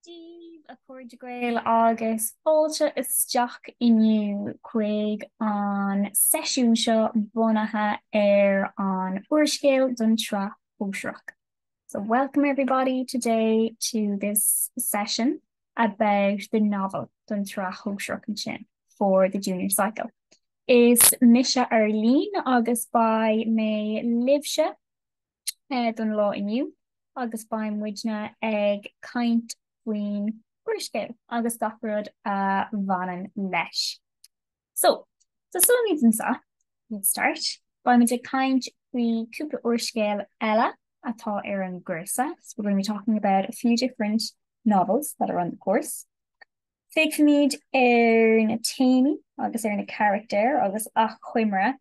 Daoibh a chairde Gael agus fáilte isteach inniu chuig an seisiún seo bunaithe ar an úrscéal don tsraith shóisearach. So welcome everybody today to this session about the novel don tsraith shóisearach ansin for the junior cycle. Is mise Arlene agus beidh mé libhse don lá inniu agus beidh muidne ag caint faoin úrscéal agus gach rud a bhaineann leis. So, tosóimid ansin, let's start, beidh muid ag caint faoi cúpla úrscéal eile atá ar an gcúrsa, so we're going to be talking about a few different novels that are on the course. Féachfaimid ar na téamaí agus ar na carachtair agus achoimre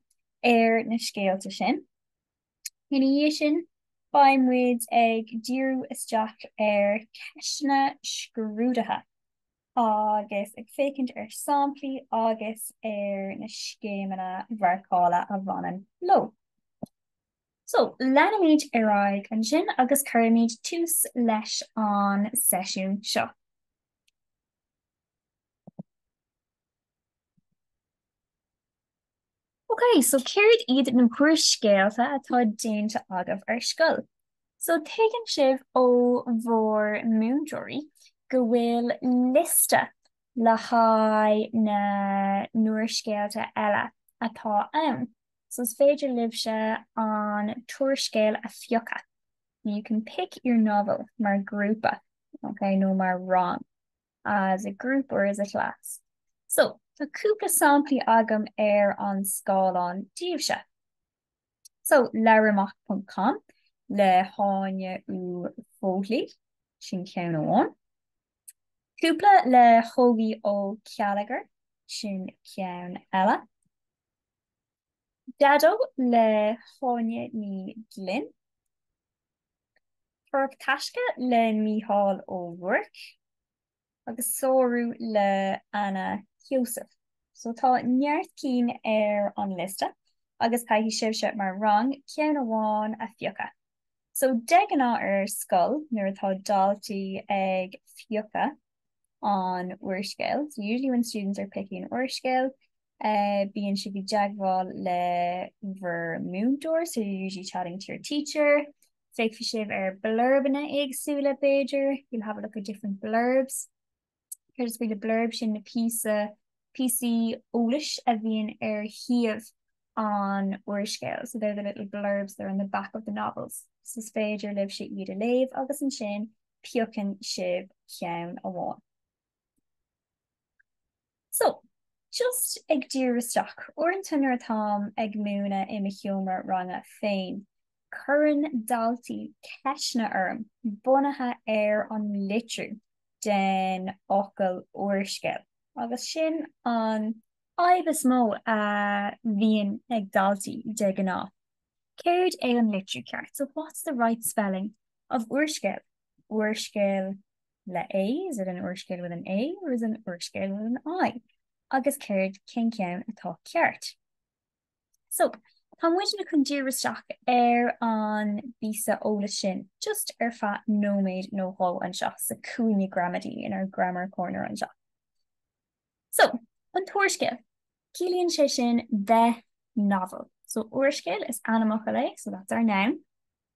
ar na scéalta sin. Ina dhiaidh sin, beidh muid ag díriú isteach ar cheisteanna scrúdaithe agus ag féachaint ar samplaí agus ar na scéimeanna mharcála a bhaineann leo. So, leanfaimid ar aghaidh ansin agus cuirfimid tús leis an seisiún seo. Ok, so céard iad na húrscéalta atá déanta agaibh ar scoil? So tuigeann sibh ó bhur múinteoirí go bhfuil liosta le haghaidh na n-úrscéalta eile atá ann, so is féidir libhse an t-úrscéal a phiocadh, you can pick your novel, mar ghrúpa, ok, nó mar rang. as a group or as a class. So, tá cúpla samplaí agam ar an scáileán daoibhse. So, LabhairAmach ponc com le hÁine Uí Fhoghlú, sin ceann amháin. Cúpla le hÓgie Ó Céilleachair, sin ceann eile. Daideo le hÁine Ní Ghlinn. Tóraíocht Taisce le Mícheál Ó Ruairc agus Sárú le Anna Heussaff. So tá neart cinn ar an liosta agus caithfidh sibhse mar rang ceann amháin a phiocadh. So de ghnáth ar scoil nuair atá daltaí ag piocadh an úrscéil, so usually when students are picking an úrscéal, bíonn sibh i dteagmháil le bhur múinteoir, so you're usually chatting to your teacher, féachfaidh sibh ar blurbanna éagsúla b'fhéidir, you'll have a look at different blurbs. Céard is brí le blurb sin na píosa píosaí eolais a bhíonn ar thaobh an úrscéil, so they're the little blurbs that are on the back of the novels. So is féidir libh sé iad a léamh agus ansin piocann sibh ceann amháin. So, just ag díriú isteach, uaireanta nuair atáim ag múineadh i mo sheomra ranga féin, cuireann daltaí ceisteanna orm bunaithe ar an litriú den fhocal úrscéal agus sin an fhadhb is mó a bhíonn ag daltaí de ghnáth, céard é an litriú ceart, so what's the right spelling of úrscéal, úrscéal? le a, is it an úrscéal with an a or is it an úrscéal with an i? agus céard, cén ceann atá ceart. So, tá muidne chun díriú isteach ar an bpíosa eolais sin just ar feadh nóiméad nó dhó anseo sa cúinne gramadaí, in our grammar corner anseo. So, an t-úrscéal, ciallaíonn sé sin the novel. So, úrscéal is ainmfhocal é, so that's our noun.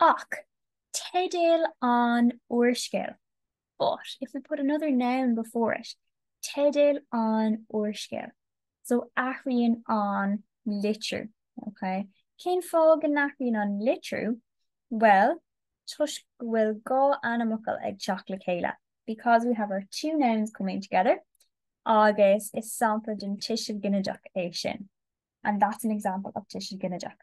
Ach teideal an úrscéil But if we put another noun before it, teideal an úrscéil. So athraíonn an litriú. Okay? Cén fáth go n-athraíonn an litriú? Well, toisc go bhfuil dhá ainmfhocal ag teacht le chéile. Because we have our two nouns coming together agus is sampla den tuiseal ginideach é sin. And that's an example of tuiseal ginideach.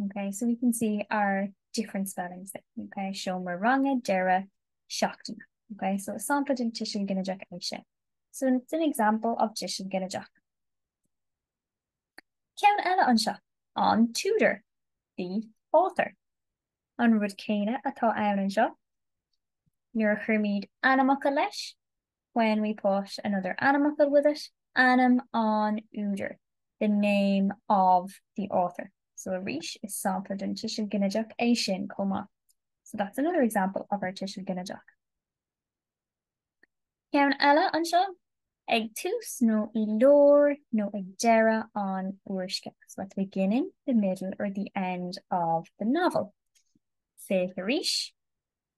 Ok, so we can see our different spellings there. Ok, seomra ranga, deireadh seachtaine. Ok, so is sampla den tuiseal ginideach é sin. So it's an example of tuiseal ginideach. Ceann eile anseo, an t-údar, the author. An rud céanna atá ann anseo, nuair a chuirimid ainmfhocal leis, when we put another ainmfhocal with it, ainm an údair, the name of the author. So arís, is sampla den tuiseal ginideach é sin chomh maith. So that's another example of our tuiseal ginideach. Ceann eile anseo, ag tús nó i lár nó ag deireadh an úrscéil, so at the beginning, the middle or the end of the novel. Féach arís.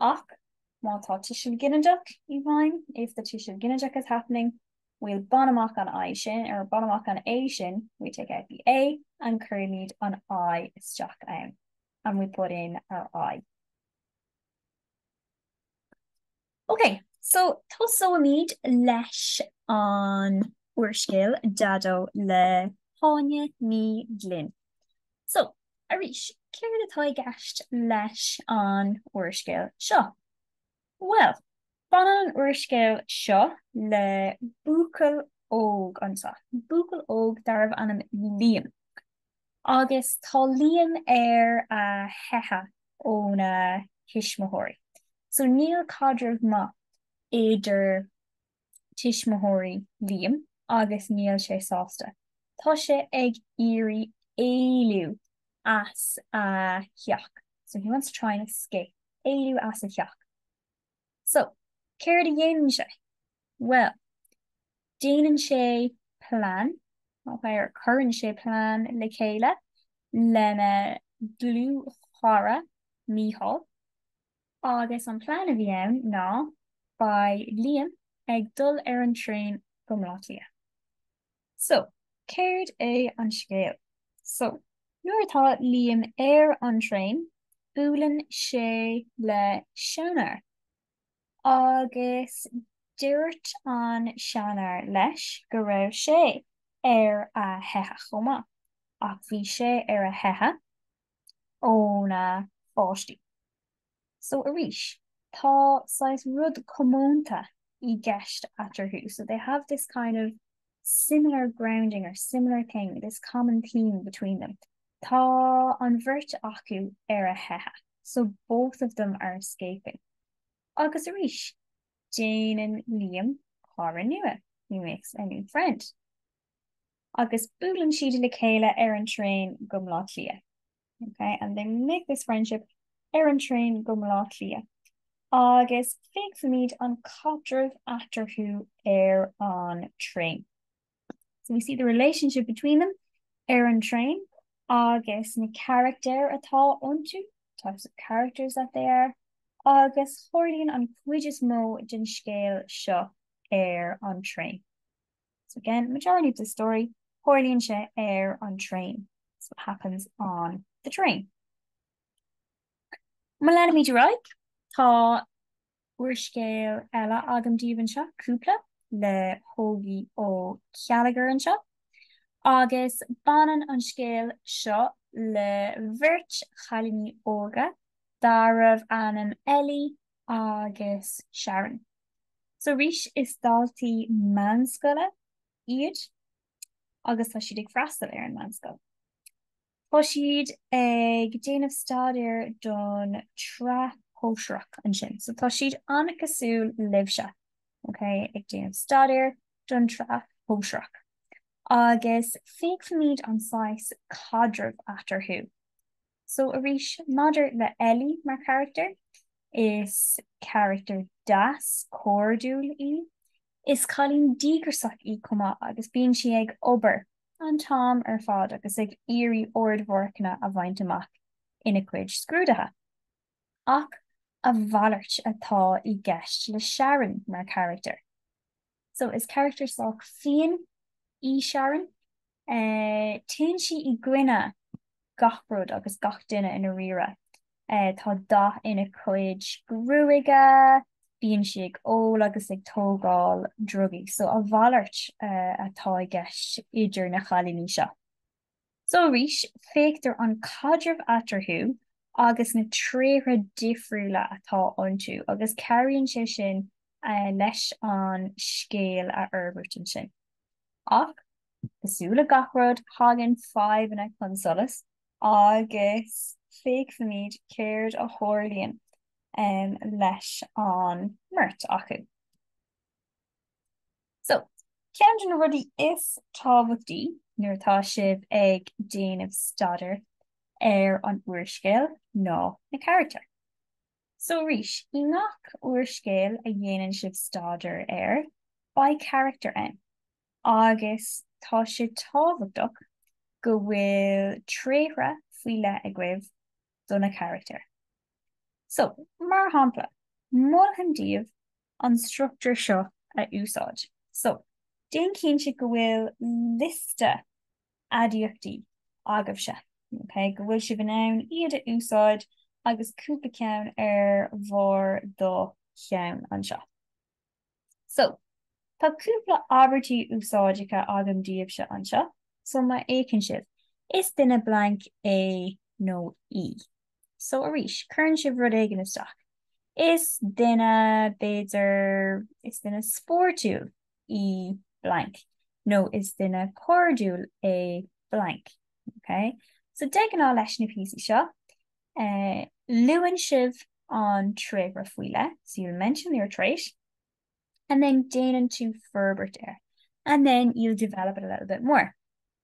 Ach má tá tuiseal ginideach i bhfeidhm, if the tuiseal ginideach is happening, bhuel, bain amach an I sin, or bain amach an A sin, we take out the A and cuirimid an I isteach ann, and we put in our I. Ok, so tosóimid leis an úrscéal Daideo le hÁine Ní Ghlinn. So, arís, céard atá i gceist leis an úrscéal seo? Bhuel, baineann an úrscéal seo le buachaill óg anseo, buachaill óg darbh ainm Liam. Agus tá Liam ar a theitheadh óna thuismitheoirí. So níl caidreamh maith idir. tuismitheoirí Liam agus níl sé sásta. Tá sé ag iarraidh éalú as a theach So he wants to try and escape. Éalú as a theach. So, céard a dhéanann sé? Bhuel, déanann sé plean, or cuireann sé plean le chéile lena dhlúthchara Mícheál. Agus an plean a bhí ann ná, beidh Liam ag dul ar an traein go mBleá Cliath. So, céard é an scéal? So, nuair atá Liam ar an traein, buaileann sé le seanfhear. Agus dúirt an seanfhear leis go raibh sé ar a theitheadh chomh maith. Ach bhí sé ar a theitheadh óna pháistí. So arís, tá saghas rud comónta i gceist eatarthu, so they have this kind of similar grounding or similar thing, this common theme between them. Tá an bheirt acu ar a theitheadh, so both of them are escaping. Agus arís, déanann Liam cara nua, he makes a new friend. agus buaileann siad le chéile ar an traein go mBleá Cliath. Ok and they make this friendship ar an traein go mBleá Cliath agus féachfaimid an caidreamh eatarthu ar an traein. So we see the relationship between them ar an traein agus na carachtair atá iontu, types of characters that they are, agus tharlaíonn an chuid is mó den scéal seo ar an traein. So again, majority of the story, tharlaíonn sé ar an traein. It's what happens on the train. Má leanfaimid ar aghaidh, tá úrscéal eile agam daoibh anseo, Cúpla, le hÓgie Ó Céilleachair anseo, agus baineann an scéal seo le bheirt chailíní óga darbh ainm Ellie agus Sharon. So arís is daltaí meánscoile iad agus tá siad ag freastal ar an meánscoil. Tá siad ag déanamh staidéar don tsraith shóisearach ansin. So tá siad an-chosúil libhse, okay? Ag déanamh staidéar don tsraith shóisearach. Agus féachfaimid an saghas caidrimh eatarthu. So arís, maidir le Ellie mar charachtar, is carachtar deas, cairdiúil í. Is cailín díograsach í chomh maith agus bíonn sí ag obair an t-am ar fad agus ag iarraidh ardmharcanna a bhaint amach ina cuid scrúduithe. Ach a mhalairt atá i gceist le Sharon mar charachtar. So is carachtar sách fiain í Sharon. Téann sí i gcoinne gach rud agus gach duine i ndáiríre. Tá dath ina cuid gruaige, bíonn sí ag ól agus ag tógáil drugaí. So a mhalairt atá i gceist idir na chailíní seo. So arís, féachtar an caidreamh eatarthu agus na tréithre difriúla atá iontu agus cabhraíonn sé sin leis an scéal a fhorbairt ansin. Ach, cosúil le gach rud, tagann fadhbanna chun solais agus féachfaimid céard a tharlaíonn leis an mbeirt acu. So, ceann de na rudaí is tábhachtaí nuair atá sibh ag déanamh staidéar ar an úrscéal ná na carachtair. So arís, i ngach úrscéal a dhéanann sibh staidéar air, beidh carachtar ann agus tá sé tábhachtach go bhfuil tréithre faoi leith agaibh do na carachtair. So, mar shampla, molfainn daoibh an struchtúr seo a úsáid. So, déan cinnte go bhfuil liosta aidiachtaí agaibhse, ok, go bhfuil sibh in ann iad a úsáid agus cúpla ceann ar bharr do cheann anseo. So, tá cúpla abairtí úsáideacha agam daoibhse anseo. So, má fheiceann sibh, is duine blank é nó í. So arís, cuireann sibh rud éigin isteach. Is duine, b'fhéidir, is duine spóirtiúil í blank, nó is duine cairdiúil é blank. Okay? So de ghnáth leis na píosaí seo, eh, luann sibh an tréithre faoi leith, so you'll mention your trait, and then déanann tú forbairt air, and then you'll develop it a little bit more.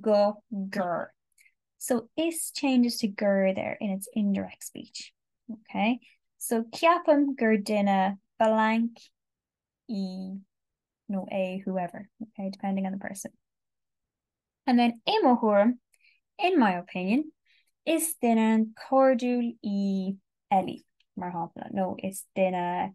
go gur. So is changes to gur there in its indirect speech. Okay. So ceapaim gur duine blank í nó é whoever, okay, depending on the person. And then i mo thuairim, in my opinion, is duine cairdiúil í Ellie, mar shampla, nó is duine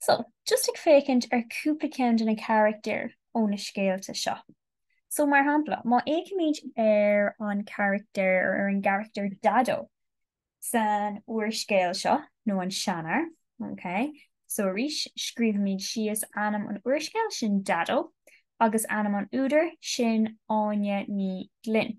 So, just ag féachaint ar chúpla ceann de na carachtair ó na scéalta seo. So, mar shampla, má fhéachaimid ar an charachtar, ar an gcarachtar Daideo san úrscéal seo, nó an seanfhear, ok? So, arís, scríobhaimid síos ainm an úrscéil, sin Daideo, agus ainm an údair, sin Áine Ní Ghlinn.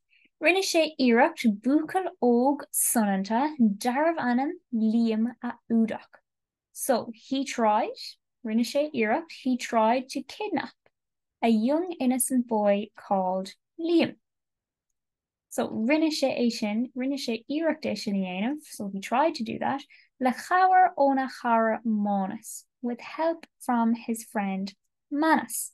Rinne sé iarracht buachaill óg soineanta darbh ainm Liam a fhuadach. So, he tried, rinne sé iarracht, he tried to kidnap a young innocent boy called Liam. So, rinne sé é sin, rinne sé iarracht é sin a dhéanamh, so he tried to do that, le cabhair óna chara Mánas, with help from his friend Manus.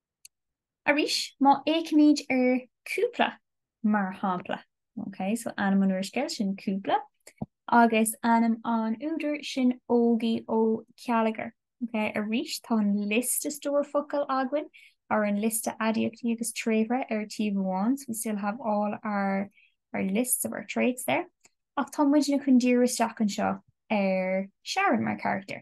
Arís, má fhéachaimid ar 'cúpla', mar shampla, ok, so ainm an úrscéil, sin 'cúpla', agus ainm an údair, sin 'Ógie Ó Céilleachair', ok, arís tá an liosta stór focal againn, or an liosta aidiachtaí agus tréithre ar taobh amháin, so we still have all our, our lists of our traits there, ach tá muidne chun díriú isteach anseo ar Sharon mar charachtar.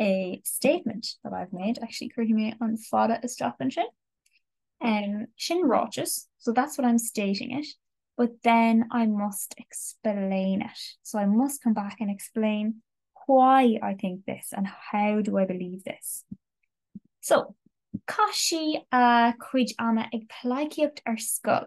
a statement that I've made. Actually, cuirfidh mé an fada isteach ansin. Um, sin ráiteas, so that's what I'm stating it. But then I must explain it. So I must come back and explain why I think this and how do I believe this. So, caith sí a cuid ama ag pleidhcíocht ar scoil.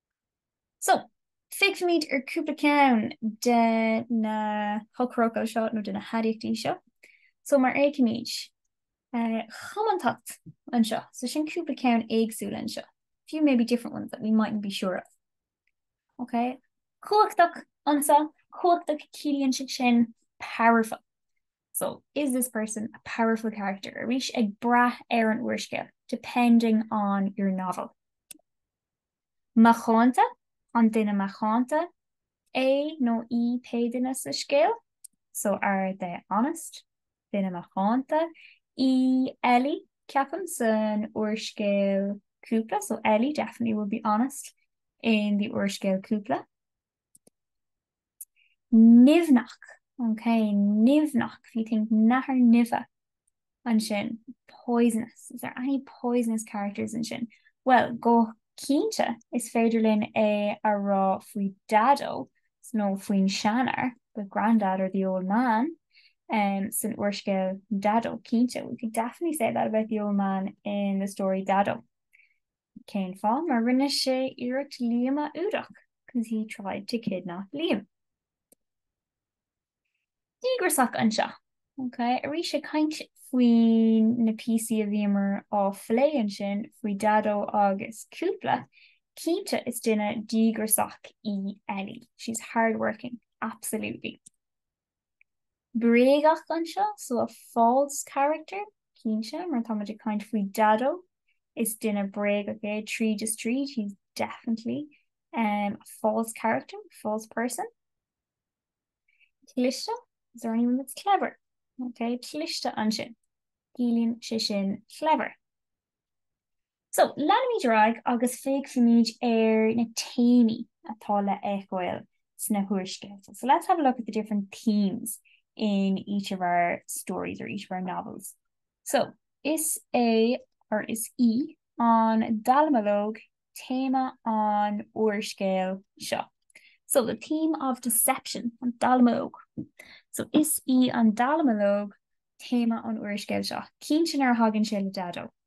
So, feicfimid cúpla ceann de na heochairfhocail seo nó de na haidiachtaí seo. So, má fhéachaimid, cumhachtach anseo. So, sin cúpla ceann éagsúil anseo. A few maybe different ones that we mightn't be sure of. Ok? Cumhachtach anseo, cumhachtach, ciallaíonn sé sin powerful. So, is this person a powerful character? Arís, ag brath ar an úrscéal, depending on your novel. macánta, an duine macánta é nó í pé duine sa scéal? So are they honest? duine macánta í Ellie, ceapaim, san úrscéal Cúpla, so Ellie definitely would be honest in the úrscéal Cúpla. Nimhneach, OK, nimhneach, if you think nathair nimhe ann sin, poisonous, is there any poisonous characters ansin? Bhuel, go cinnte is féidir linn é a rá faoi Dhaideo nó faoin seanfhear, the grandad or the old man, san úrscéal Daideo, cinnte, we could definitely say that about the old man in the story Daideo. Cén fáth? Mar rinne sé iarracht Liam a fhuadach, 'cause he tried to kidnap Liam. Díograiseach anseo. Ok, arís ag caint faoi na píosaí a bhíomar ag plé ansin faoi Daideo agus cúpla, cinnte is duine díograiseach í Ellie, she's hard working, absolutely. bréagach anseo so a false character, cinnte, mar tá muid ag caint faoi Daideo, is duine bréagach é tríd is tríd he's definitely a false character, false person. cliste, is there anyone that's clever? ok, cliste ansin, ciallaíonn sé sin clever. So, leanfaimid ar aghaidh agus féachfaimid ar na téamaí atá le feiceáil sna húrscéalta. So let's have a look at the different themes in each of our stories or each of our novels. So, is é or is í an dallamullóg téama an úrscéil seo. So, the theme of deception, an dallamullóg. So, is í an dallamullóg téama an úrscéil seo. Cinnte nuair a thagann sé le Daideo.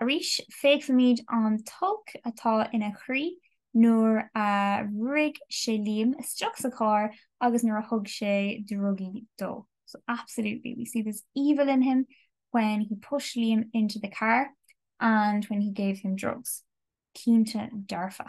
Arís, feicimid an t-olc atá ina chroí nuair a bhrúigh sé Liam isteach sa charr agus nuair a thug sé drugaí dó. So absolutely we see this evil in him when he pushed Liam into the car and when he gave him drugs. Cinnte dearfa.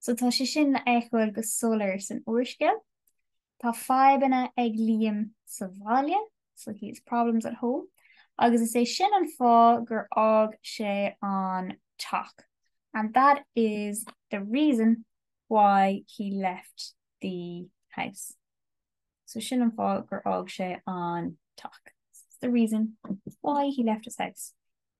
So tá sé sin le feiceáil go soiléir san úrscéal. Tá fadhbanna ag Liam sa bhaile, so he has problems at home, agus is é sin an fáth gur fhág sé an teach. And that is the reason why he left the house. So sin an fáth gur fhág sé an teach. It's the reason why he left his house.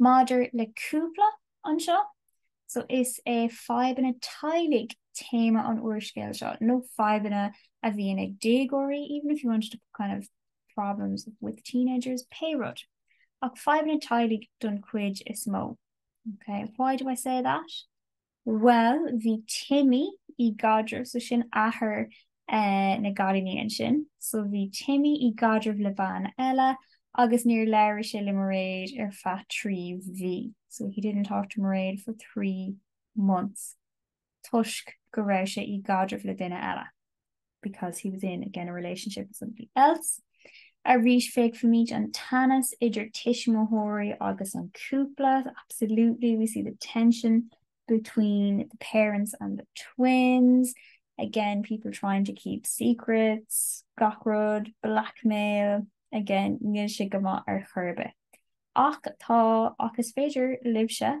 Maidir le Cúpla anseo so, is é fadhbanna teaghlaigh téama an úrscéil seo, nó fadhbanna a bhíonn ag déagóirí, even if you wanted to put kind of problems with teenagers, pé rud, ach fadhbanna teaghlaigh don chuid is mó. Okay, why do I say that? Bhuel, bhí Timmy i gcaidreamh, so sin athair na gcailíní ansin, so bhí Timmy i gcaidreamh le bean eile agus níor labhair sé le Mairéad ar feadh trí mhí, so he didn't talk to Mairéad for three months, toisc go raibh sé i gcaidreamh le duine eile. because he was in again a relationship with somebody else. Arís féachfaimid an teannas idir tuismitheoirí agus an cúpla. Absolutely, we see the tension between the parents and the twins. Again, people trying to keep secrets, gach rud, blackmail. Again, níl sé go maith ar chor ar bith. Ach tá, ach is féidir libhse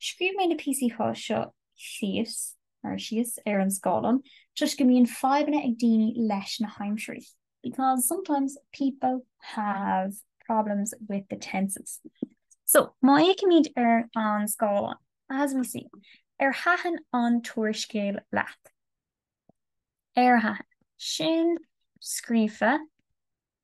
Scríobh mé na píosaí seo síos, or síos, ar an scáileán toisc go mbíonn fadhbanna ag daoine leis na haimsirí. because sometimes people have problems with the tenses. So, má fhéachaimid ar an scáileán, as we see, ar thaitin an t-úrscéal leat? Ar thaitin. Sin scríofa.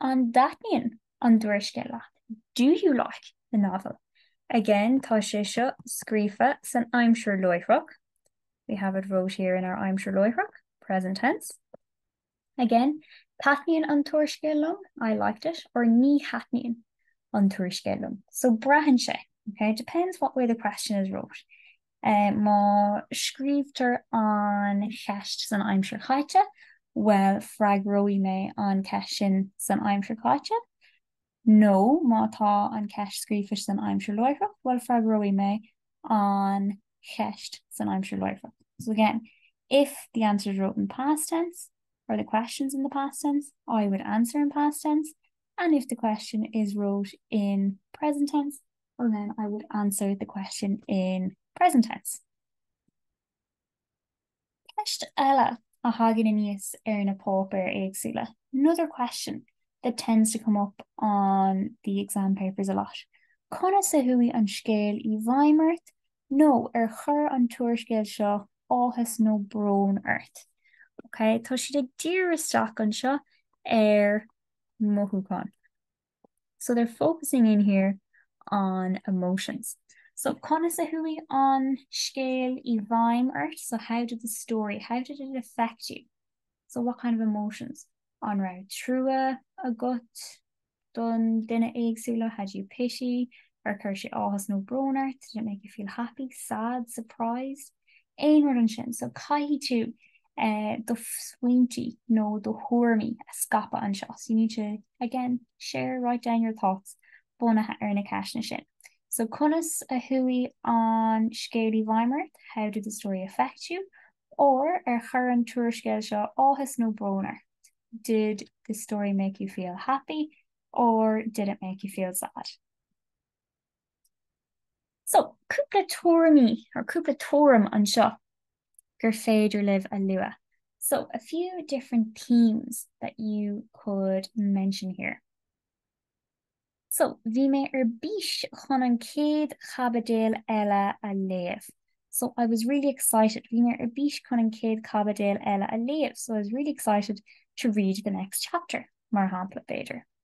An dtaitníonn an t-úrscéal leat? Do you like the novel? Again, tá sé seo scríofa san aimsir láithreach. We have it wrote here in our aimsir láithreach, present tense. Again, Taitníonn an t-úrscéal liom, I liked it, or Ní thaitníonn an t-úrscéal liom. So braitheann sé, okay? It depends what way the question is wrote. Má scríobhtar an cheist san aimsir chaite, bhuel, freagróidh mé an cheist sin san aimsir chaite. Nó má tá an cheist scríofa san aimsir láithreach, bhuel, freagróidh mé an cheist san aimsir láithreach. So again, if the answer is wrote in past tense or the question's in the past tense, I would answer in past tense and if the question is wrote in present tense, Well then I would answer the question in present tense. Ceist eile a thagann aníos ar na páipéir éagsúla, another question that tends to come up on the exam papers a lot, conas a chuaigh an scéal i bhfeidhm ort nó ar chuir an t-úrscéal seo áthas nó brón ort? Ok, tá siad ag díriú isteach anseo ar mothúchán. So they're focusing in here on emotions. So conas a chuaigh an scéal i bhfeidhm ort? So how did the story, how did it affect you? So what kind of emotions? An raibh trua agat don duine éagsúla? Had you pity? Ar chuir sé áthas nó brón ort? Did it make you feel happy, sad, surprised? Aon rud ansin. So caithfidh tú do smaointí nó do thuairimí a scaipeadh anseo so you need to, again, share, write down your thoughts bunaithe ar na ceisteanna sin. So conas a chuaigh an scéal i bhfeidhm ort? How did the story affect you? Or ar chuir an t-úrscéal seo áthas nó brón ort? Did the story make you feel happy? Or did it make you feel sad? So, cúpla tuairimí, or cúpla tuairim anseo gur féidir libh a lua. So, a few different themes that you could mention here. So, bhí mé ar bís chun an chéad chaibidil eile a léamh. So, I was really excited, bhí mé ar bís chun an chéad chaibidil eile a léamh. So, I was really excited to read the next chapter, mar shampla, b'fhéidir.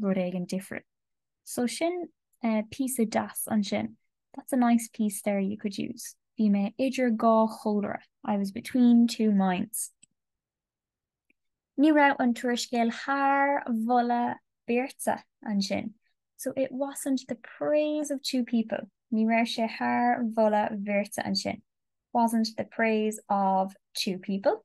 rud éigin different. So sin é píosa deas ansin. That's a nice piece there you could use. Bhí mé idir dhá chomhairle. I was between two minds. Ní raibh an t-úrscéal thar mholadh beirte ansin. So it wasn't the praise of two people. Ní raibh sé thar mholadh bheirte ansin. Wasn't the praise of two people.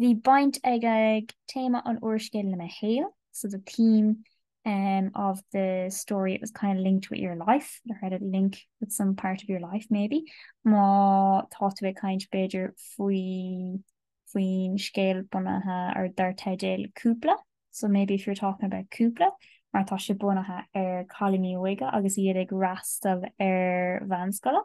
Bhí baint ag téama an úrscéil le mo shaol, so the theme of the story, it was kind of linked with your life, it had a link with some part of your life maybe. Má tá tú ag caint b'fhéidir faoi faoin scéal bunaithe ar dar teideal Cúpla, so maybe if you're talking about Cúpla, mar tá sé bunaithe ar cailíní óige agus iad ag fhreastal ar mheánscoil.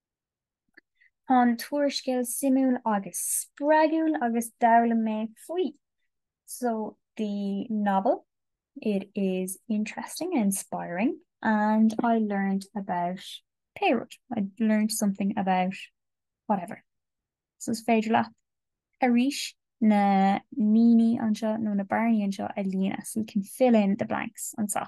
Tá an t-úrscéal suimiúil agus spreagúil agus d'fhoghlaim mé faoi So the novel, it is interesting and inspiring and I learned about pé rud, I learned something about whatever. So is féidir leat arís na línte anseo nó na bearnaí anseo a líonadh, so you can fill in the blanks anseo.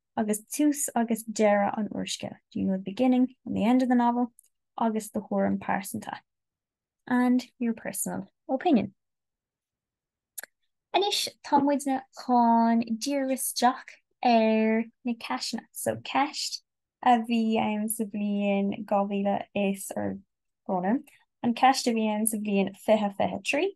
agus tús agus deireadh an úrscéil, do you know the beginning and the end of the novel? agus do thuairim pearsanta, and your personal opinion. Anois tá muidne chun díriú isteach ar na ceisteanna. So ceist a bhí ann sa bhliain 2000 is, or gabh mo leithscéal, an ceist a bhí ann sa bhliain 2023,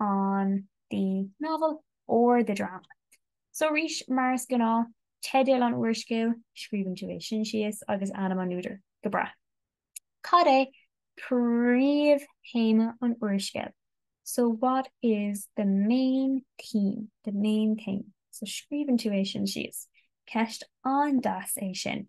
on the novel or the drama. So arís, mar is gnáth, teideal an úrscéil, scríobhann tú é sin síos, agus ainm an údair. Go breá. Cad é príomhthéama an úrscéil? So what is the main theme, the main theme? So scríobhann tú é sin síos. Ceist an-deas é sin.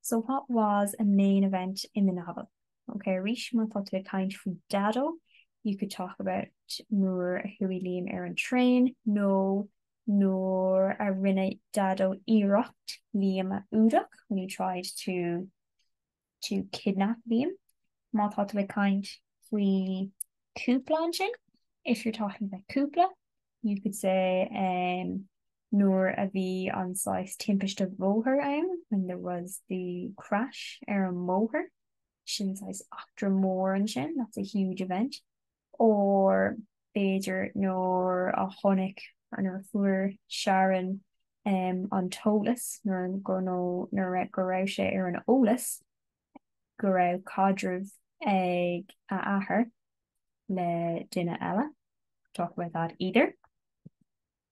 So what was a main event in the novel? Ok, arís, má tá tú ag caint faoi Daideo, you could talk about nuair a chuaigh Liam ar an traein nó nuair a rinne Daideo iarracht Liam a fhuadach, when he tried to to kidnap Liam. Má tá tú ag caint faoi Cúpla ansin, if you're talking about Cúpla, you could say um, nuair a bhí an saghas timpiste bóthair ann, when there was the crash ar an mbóthar, sin saghas eachtra mór ansin, that's a huge event, or b'fhéidir nuair a chonaic, or nuair a fuair Sharon ehm an t-eolas, nó nuair go raibh sé ar an eolas go raibh caidreamh ag a athair le duine eile, talk about that either.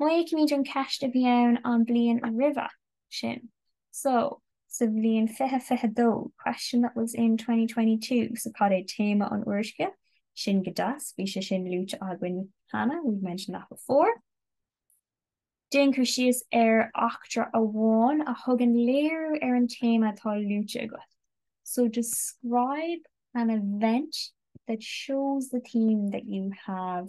Má fhéachaimid an cheist a bhí ann an bhliain roimhe sin, so, sa bhliain fiche fiche dó, question that was in twenty twenty two, so cad é téama an úrscéil, sin go deas, bhí sé sin luaite againn cheana, we've mentioned that before. Déan cur síos ar eachtra amháin a thugann léiriú ar an téama atá luaite agat, so describe an event that shows the theme that you have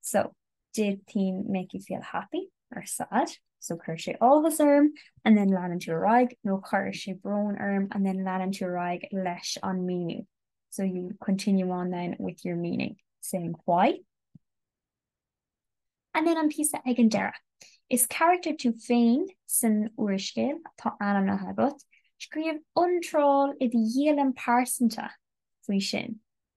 So, did theme make you feel happy or sad? So chuir sé áthas orm and then leanann tú ar aghaidh nó chuir sé brón orm and then leanann tú ar aghaidh leis an meaning. So you continue on then with your meaning, saying why. And then an píosa ag an deireadh. Is character tú féin san úrscéal atá ainmnithe agat, scríobh iontráil i do dhialann pearsanta faoi sin.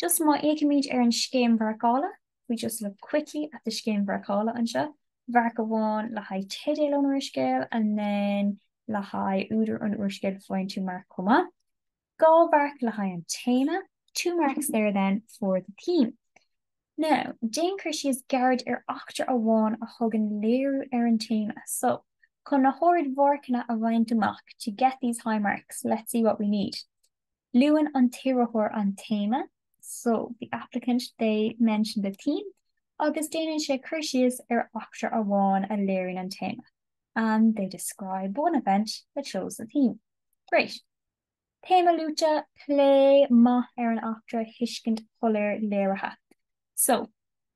Just má fhéachaimid ar an scéim mharcála, if we just look quickly at the scéim mharcála anseo, mharc amháin le haghaidh teideal an úrscéil and then le haghaidh údar an úrscéil faigheann tú marc chomh maith, dhá mharc le haghaidh an téama, two marks there then for the theme. Now, déan cur síos gairid ar eachtra amháin a thugann léiriú ar an téama. So, chun na hardmharcanna a bhaint amach, to get these high marks, let's see what we need. Luann an t-iarrthóir an téama, so, the applicant, they mention the theme agus déanann sé cur síos ar eachtra amháin a léiríonn an téama, and they describe one event that shows the theme. Great! Téama luaite, plé maith ar an eachtra, thuiscint shoiléir léirithe. So.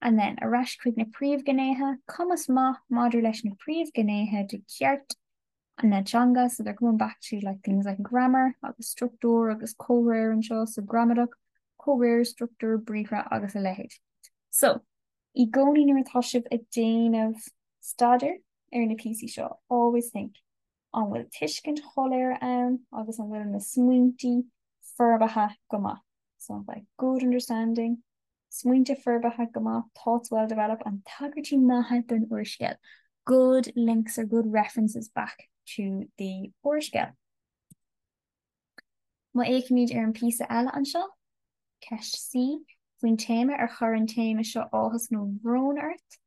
And then, ar ais chuig na príomhghnéithe, cumas maith maidir leis na príomhghnéithe de cheart na teanga, so they're coming back to like things like grammar agus structúr agus comhréir anseo, so gramadach, comhréir, structúr, briathra agus a leithéid. So, i gcónaí nuair atá sibh ag déanamh staidéar ar na píosaí seo, always think, An bhfuil tuiscint shoiléir ann agus an bhfuil na smaointe forbartha go maith? So like good understanding, Smaointe forbartha go maith, thoughts well developed and Tagairtí maithe don úrscéal, good links or good references back to the úrscéal. Má fhéachaimid ar an bpíosa eile anseo, Ceist C, faoin téama Ar chuir an téama seo áthas nó brón ort?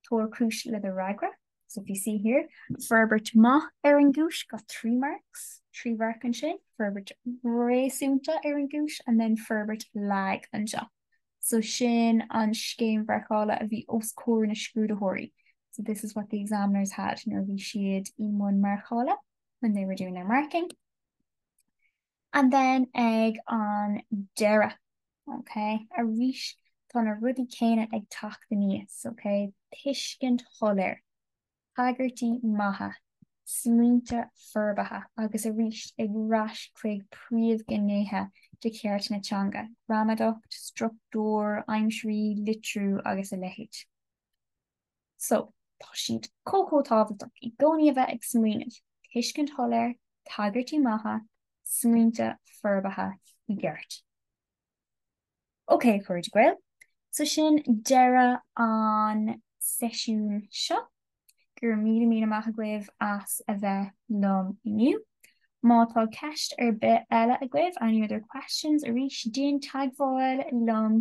tabhair cúis le do fhreagra. So if you see here, forbairt maith ar an gcúis got three marks, trí mharc ansin, forbairt réasúnta ar an gcúis and then forbairt lag anseo. So sin an scéim mharcála a bhí os comhair na scrúdaitheoirí. So this is what the examiners had nuair a bhí siad i mbun marcála. when they were doing their marking. And then ag an deireadh, okay, arís tá na rudaí céanna ag teacht aníos, okay, tuiscint shoiléir, tagairtí maithe, smaointe forbartha agus arís ag rás chuig príomhghnéithe de cheart na teanga, gramadacht, struchtúr, aimsirí, litriú agus a leithéid. So, tá siad chomh chomh tábhachtach i gcónaí a bheith ag smaoineamh, tuiscint shoiléir, tagairtí maithe, smaointe forbartha i gceart. Ok, a chairde Gael, so sin deireadh an seisiún seo. Go raibh míle míle maith agaibh as a bheith liom inniu. Má tá ceist ar bith eile agaibh, any other questions, arís, déan teagmháil liom